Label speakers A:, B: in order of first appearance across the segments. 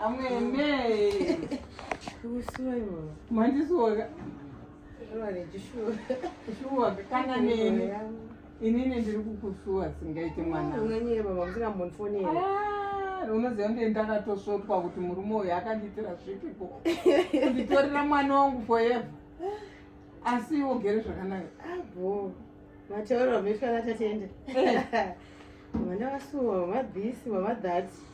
A: amwene mandisuwoka shuwa kana neni inini ndiri kukusuwa singaite mwana unoziva ndee ndakatosvotwa kuti murume uyu akandiitira zvipi ko kunditorera mwana wangu forever asi iwo gere zvakanaka abo ah, mataura mishwana tatiende eh. mwana wasuwa mabhisi mamadhati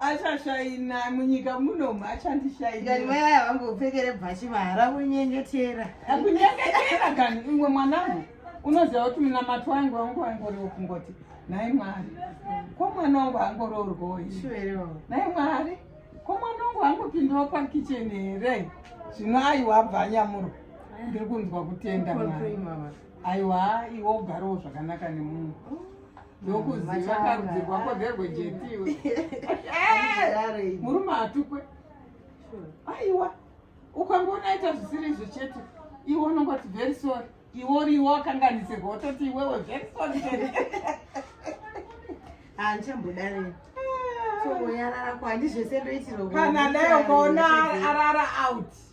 A: achashaina munyika muno machandishainai mai vaya vangopfekere bhachi mahara kunyengetera kunyengetera kani imwe mwanangu unoziva kuti munamato wangu wangu wangoriwo kungoti nhai mwari ko mwana wangu angoroorwoi nhai mwari ko mwana wangu angopindawo pakichen here zvino aiwa bva anyamuro ndiri kunzwa kutenda mwari aiwa iwo ugarowo zvakanaka nemunhu ndokuziva karudzi rwako nderwejetiwe murume hatukwe aiwa ukangoona aita zvisiri izvo chete iwe unongoti very sorry iwe uriwo wakanganisirwa wototi iwewe very sorry chete handichambodarei ah, kana dai ukaona arara out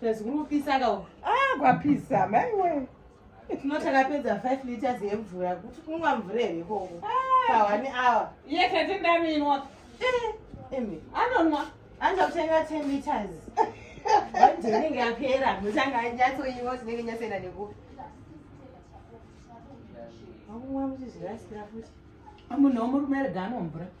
A: Plus kuri kupisa ka uku. Ah, kwapisa maiwe. Tino takapedza 5 liters yemvura kuti kunwa mvura here ikoko. Pa 1 hour. Iye tete ndaminwa. Eh, imi. Anonwa. Anza kutenga 10 liters. Wanje inenge yapera, muchanga anyatsoiwa tinenge nyasenda nekupi. Amunhu omurumere gano mvura.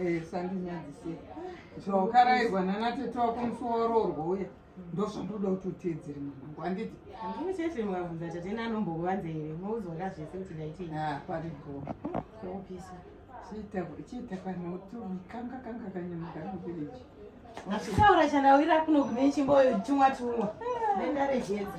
A: Eh, sandinyadzise zvawakarairwa nana tete wako musi wawaroorwa uya ndozvandoda kuti uteedzere mwanangu handiti handii chete mukabvunza tete nanombokuvanza here mouzoda zvese kuti ndaitei ah, paripo opisa chiita kana utumikanga kanga kanyamuka novileji achitaura chandawira kuno kune chimboyo tumwa tumwa nendarejedza